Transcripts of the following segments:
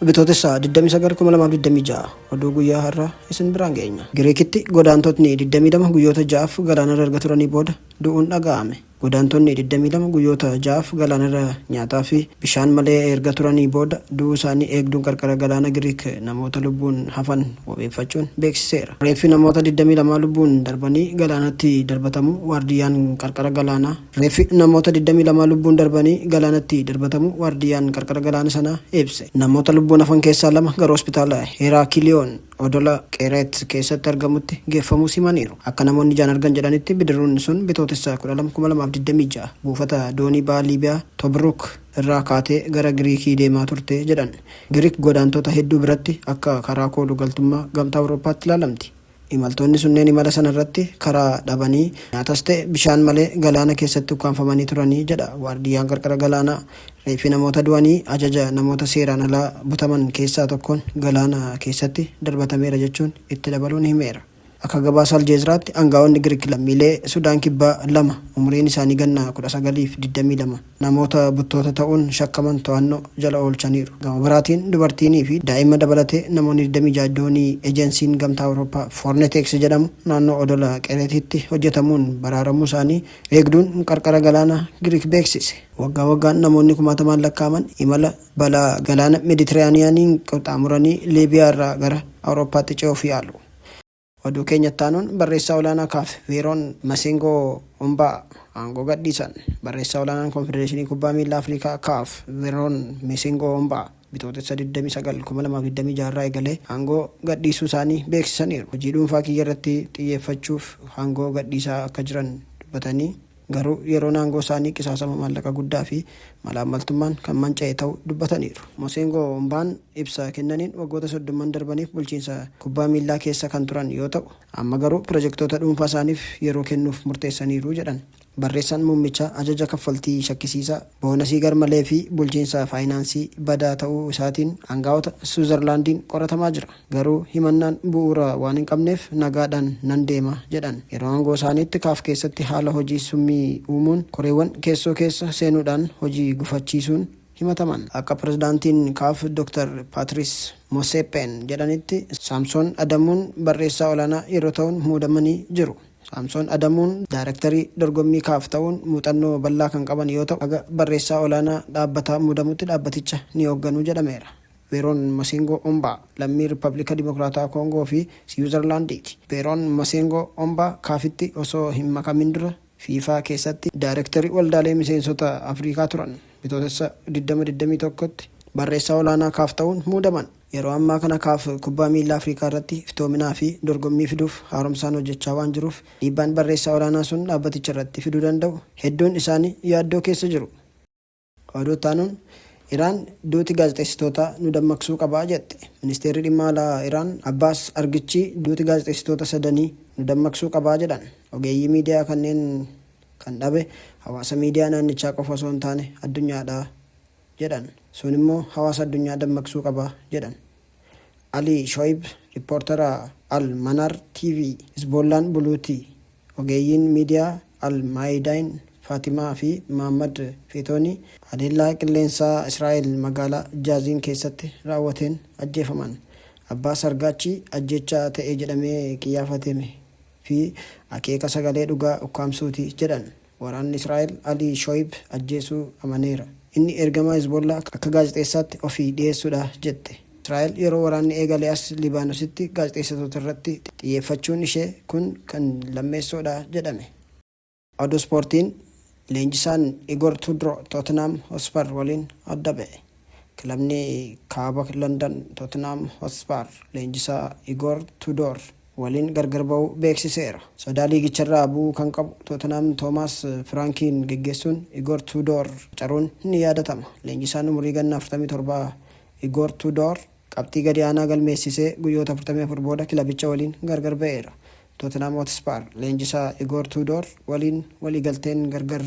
Bitootessa 29,2026 oduu guyyaa har'aa isin biraan geenya. Giriikitti godaantotni 22 guyyoota ja'aaf galaanarra erga turanii booda du'uun dhaga'ame. Godaantonni 22 guyyoota ja'aaf galaanarra nyaataafi bishaan malee erga turanii booda du'uu isaanii eegduun qarqara galaana Giriik namoota lubbuun hafan wabeeffachuun beeksiseera. Reeffi namoota 22 lubbuun darbanii galaanatti darbatamuu waardiyyaan qarqara galaanaa. Reeffi namoota 22 lubbuun darbanii galaanatti darbatamuu waardiyyaan qarqara galaana sanaa ibse. Namoota lubbuun hafan keessaa lama gara hospitaala Heeraakiliyoon. odola Qeereet keessatti argamutti geeffamuus himaniiru. Akka namoonni ijaan argan jedhanitti bidiruun sun Bitootessa 12, 2026 buufata doonii baha Liibiyaa Tobruuk irraa kaatee gara Giriikii deemaa turte jedhan. Giriik godaantota hedduu biratti akka karaa koolu galtummaa Gamtaa Awurooppaatti ilaalamti. Imaltoonni sunneen imala sana irratti karaa dhabanii, nyaatas ta'e bishaan malee galaana keessatti ukkaamfamanii turani jedha waardiyyaan qarqara galaanaa. Reeffi namoota du'anii ajaja namoota seeraan alaa butaman keessaa tokkoon galaana keessatti darbatameera jechuun itti dabaluun himeera. Akka gabaasa Aljeezraatti angaa'onni Girik lammiilee Sudaan Kibbaa lama umuriin isaanii ganna 19 fi 22 namoota buttoota ta'uun shakkaman to'anno jala oolchaniiru. Gama biraatiin dubartiinii fi daa'imma dabalatee namoonni 26 doonii ejensiin Gamtaa Awurooppaa Fornetex jedhamu naannoo odola Qereetiitti hojjetamuun baraaramuu isaanii eegduun qarqara galaana Girik beeksise. Waggaa waggaan namoonni kumaatamaan lakkaa'aman imala balaa galaana Mediteraaniyaaniin qaxxaamuranii Liibiyaa irraa gara Awurooppaatti ce'uuf yaalu. Oduu keenya itti aanuun barreessaa olaanaa Kaaf, Veeroon Masengoo Ombaa aangoo gadhiisan. Barreessaa olaanaan Konfedereeshinii Kubbaa Miillaa Afrikaa, Kaaf, Veeroon Mesengoo Ombaa Bitootessa 29, 2026 irraa eegalee aangoo gadhiisuu isaanii beeksisaniiru. Hojii dhuunfaa kiyya irratti xiyyeeffachuuf aangoo gadhiisaa akka jiran dubbatanii, Garuu yeroon aangoo isaanii qisaasama maallaqa guddaa fi malaammaltummaan kan manca'e ta'uu dubbataniiru. Mosengo Ombaan ibsa kennaniin waggoota soddomman darbaniif bulchiinsa kubbaa miillaa keessa kan turan yoo ta'u, amma garuu pirojektoota dhuunfaa isaaniif yeroo kennuuf murteessaniiru jedhan. Barreessaan muummichaa ajaja kaffaltii shakkisiisaa, boonasii garmalee fi bulchiinsa faayinaansii badaa ta'uu isaatiin angaa'ota Siwiizarlaandiin qoratamaa jira. Garuu himannaan bu'uura waan hin qabneef nagaadhaan nan deema jedhan. Yeroo aangoo isaaniitti kaaf keessatti haala hojii summii uumuun koreewwan keessoo keessa seenuudhaan hojii gufachiisuun himataman. Akka pirezidaantiin kaaf Doktar Paatiriis Moseeppeen jedhanitti Saamsoon Adamuun barreessaa olaanaa yeroo ta'uun muudamanii jiru. Saamsoon Adamuun daayrektarii dorgommii kaaf ta'uun muuxannoo bal'aa kan qaban yoo ta'u haga barreessaa olaanaa dhaabbataa muudamutti dhaabbaticha ni hoogganu jedhameera. Beeroon Maseengoo Ombaa lammii Rippabilika Dimokiraatawaa Koongoo fi Siwiizarlaandiiti. Beeroon Maseengoo Ombaa Kaafitti osoo hin makamin dura Fiifaa keessatti Daayreektarii Waldaalee Miseensota Afrikaa turan. Bitootessa 20, 21tti Barreessaa Olaanaa Kaaf ta'uun muudaman. Yeroo ammaa kana Kaaf kubbaa miillaa Afrikaa irratti iftoominaa fi dorgommii fiduuf haaromsaan hojjechaa waan jiruuf dhiibbaan Barreessaa Olaanaa sun dhaabbaticha irratti fiduu danda'u hedduun isaanii yaaddoo keessa jiru. Oduu itti aanuun Iraan duuti gaazexeessitootaa nu dammaqsuu qaba jette. Ministeerri Dhimma Alaa Iraan Abbaas Argichii duuti gaazexeessitoota sadanii nu dammaqsuu qaba jedhan. Ogeeyyii miidiyaa kanneen kan dhabe hawaasa miidiyaa naannichaa qofa osoo hin taane addunyaadha jedhan. Sun immoo hawaasa addunyaa dammaqsuu qaba jedhan. Alii Shoyib, rippoortara Al Manaar TV, Hizboollaan buluutii? Ogeeyyiin miidiyaa Al Maayidaayin Faatimaa fi Mahaammad Feetoonii haleellaa qilleensaa Israa'el magaalaa Jaaziin keessatti raawwateen ajjeefaman. Abbaa Sargaachi ajjeechaa ta'e jedhamee qiyyaafateme fi akeeka sagalee dhugaa ukkaamsuuti jedhan. Waraanni Israa'el Ali Shoyib ajjeesuu amaneera. Inni ergamaa Hezbollaa akka gaazexeessaatti ofi dhiyeessudha jette. Israa'el yeroo waraanni eegale as Libaanositti gaazexeessitootarratti xiyyeeffachuun ishee kun kan lammeessoodha jedhame. Oduu Ispoortiin Leenjisaan Igor Tudroo Tootenhaam Hotsper waliin adda ba'e. Kilabni Kaaba Landan Tootenhaam Hotsper leenjisaa Igor Tudoor waliin gargar ba'uu beeksiseera. Sodaa liigicharraa bu'uu kan qabu Tootenhaam Toomaas Firaankiin geggeessuun Igoor Tuudoor qacaruun ni yaadatama. Leenjisaan umurii ganna 47 Igoor Tuudoor qabxii gadi aanaa galmeessisee guyyoota 44 booda kilabicha waliin gargar ba'eera. Tootenhaam Hootspar leenjisaa Igoor Tuudoor waliin waliigalteen gargar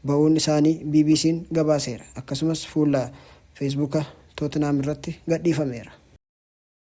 ba'uun isaanii BBC'n gabaaseera. Akkasumas fuula Feesbuuka Tootenhaam irratti gadhiifameera.